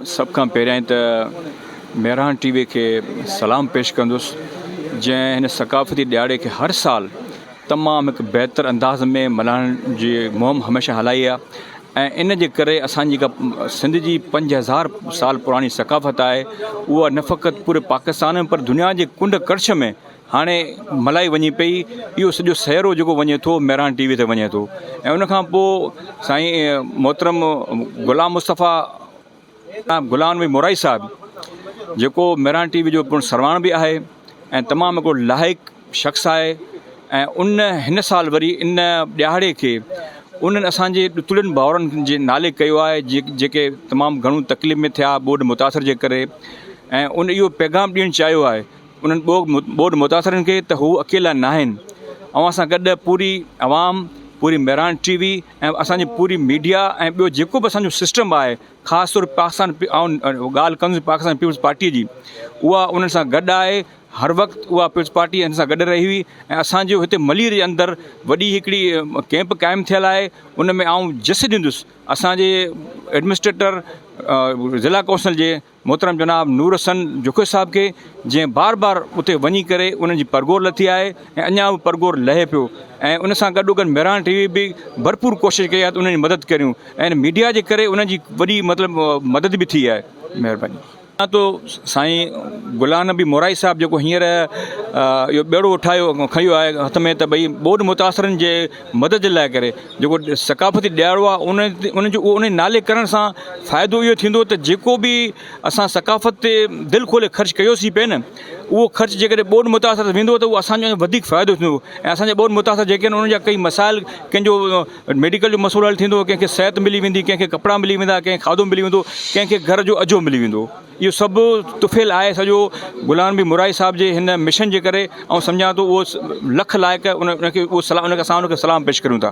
سڀ کان پهريائين ته مهراڻ ٽي وي کي سلام پيش ڪندس جنهن هن ثقافتي ڏهاڙي کي هر سال تمام هڪ بهتر انداز ۾ ملهائڻ جي مهم هميشه هلائي آهي ۽ ان جي ڪري اسان جيڪا سنڌ جي پنج هزار سال پراڻي ثقافت آهي اها نه فقط پوري پاڪستان ۾ پر دنيا جي ڪنڊ ڪڙڇ ۾ هاڻي ملائي وڃي پئي اهو سڄو سهرو جيڪو وڃي ٿو مهراڻ ٽي وي تي وڃي ٿو ۽ ان کان پوء سائين محترم غلام مصطفيٰ غلام نبي مورائي صاحب جيڪو مهراڻ ٽي وي جو پڻ سرواڻ به آهي ۽ تمام هڪڙو لائق شخص آهي ۽ ان هن سال وري ان ڏهاڙي کي انهن اسانجي ڏتڙين ڀائرن جي نالي ڪيو آهي جي جيڪي تمام گهڻو تڪليف ۾ ٿيا ٻوڏ متاثر جي ڪري ۽ ان اهو پيغام ڏيڻ چاهيو آهي انهن ٻوڏ متاثرن کي ته هو اڪيلا ناهن، اوهان سان گڏ پوري عوام، پوري مهراڻ ٽي وي ۽ اسان جي پوري ميڊيا ۽ ٻيو جيڪو به اسان جو سسٽم آهي خاص طور پاڪستان آئون ڳالهه ڪندس پاڪستان پيپلز پارٽي جي اها انهن سان گڏ آهي هر وقت اها پيپلز پارٽي انهن سان گڏ رهي هئي ۽ اسان جو هتي ملير جي اندر وڏي هڪڙي ڪيمپ قائم ٿيل آهي ان ۾ آئون جس ڏيندس اسان جي ايڊمنسٽريٽر ضلع ڪونسل جي محترم جناب نور حسن جوکي صاحب کي جنهن بار بار اتي وڃي ڪري انهن جي پرگور لٿي آهي ۽ اڃا به پرگور لهي پيو ۽ ان سان گڏوگڏ مهراڻ ٽي وي به ڀرپور ڪوشش ڪئي آهي ته انهن جي مدد ڪريون ۽ ميڊيا جي ڪري انهن جي وڏي مطلب مدد به ٿي آهي مهرباني اڃا تو سائين غلام نبي مورائي صاحب جيڪو هينئر اهو ٻيڙو اٺايو کنيو آهي هٿ ۾ ته ڀئي ٻوڏ متاثرن جي مدد جي لاء ڪري جيڪو ثقافتي ڏيارو آ ان ان جو ان نالي ڪرڻ سان فائدو اهو ٿيندو ته جيڪو به اسان ثقافت تي دل کولي خرچ ڪيوسي پئي نه اهو خرچ جي ڪڏهن ٻوڏ متاثر تي ويندو ته اهو اسان جو وڌيڪ فائدو ٿيندو ۽ اسان جا ٻوڏ متاثر جيڪي ان ان جا ڪئي مسائل ڪنهن جو ميڊيڪل جو مسئلو حل ٿيندو ڪنهن کي صحت ملي ويندي ڪنهن کي ڪپڙا ملي ويندا ڪنهن کي کاڌو ملي ويندو ڪنهن کي گهر جو اجهو ملي ويندو اهو سڀ طفيل آهي سڄو غلام نبي مورائي صاحب جي هن مشن جي ڪري آئون سمجهان ٿو اهو لک لائق ان کي اهو سلام ان کي اسان ان کي سلام پيش ڪريون ٿا.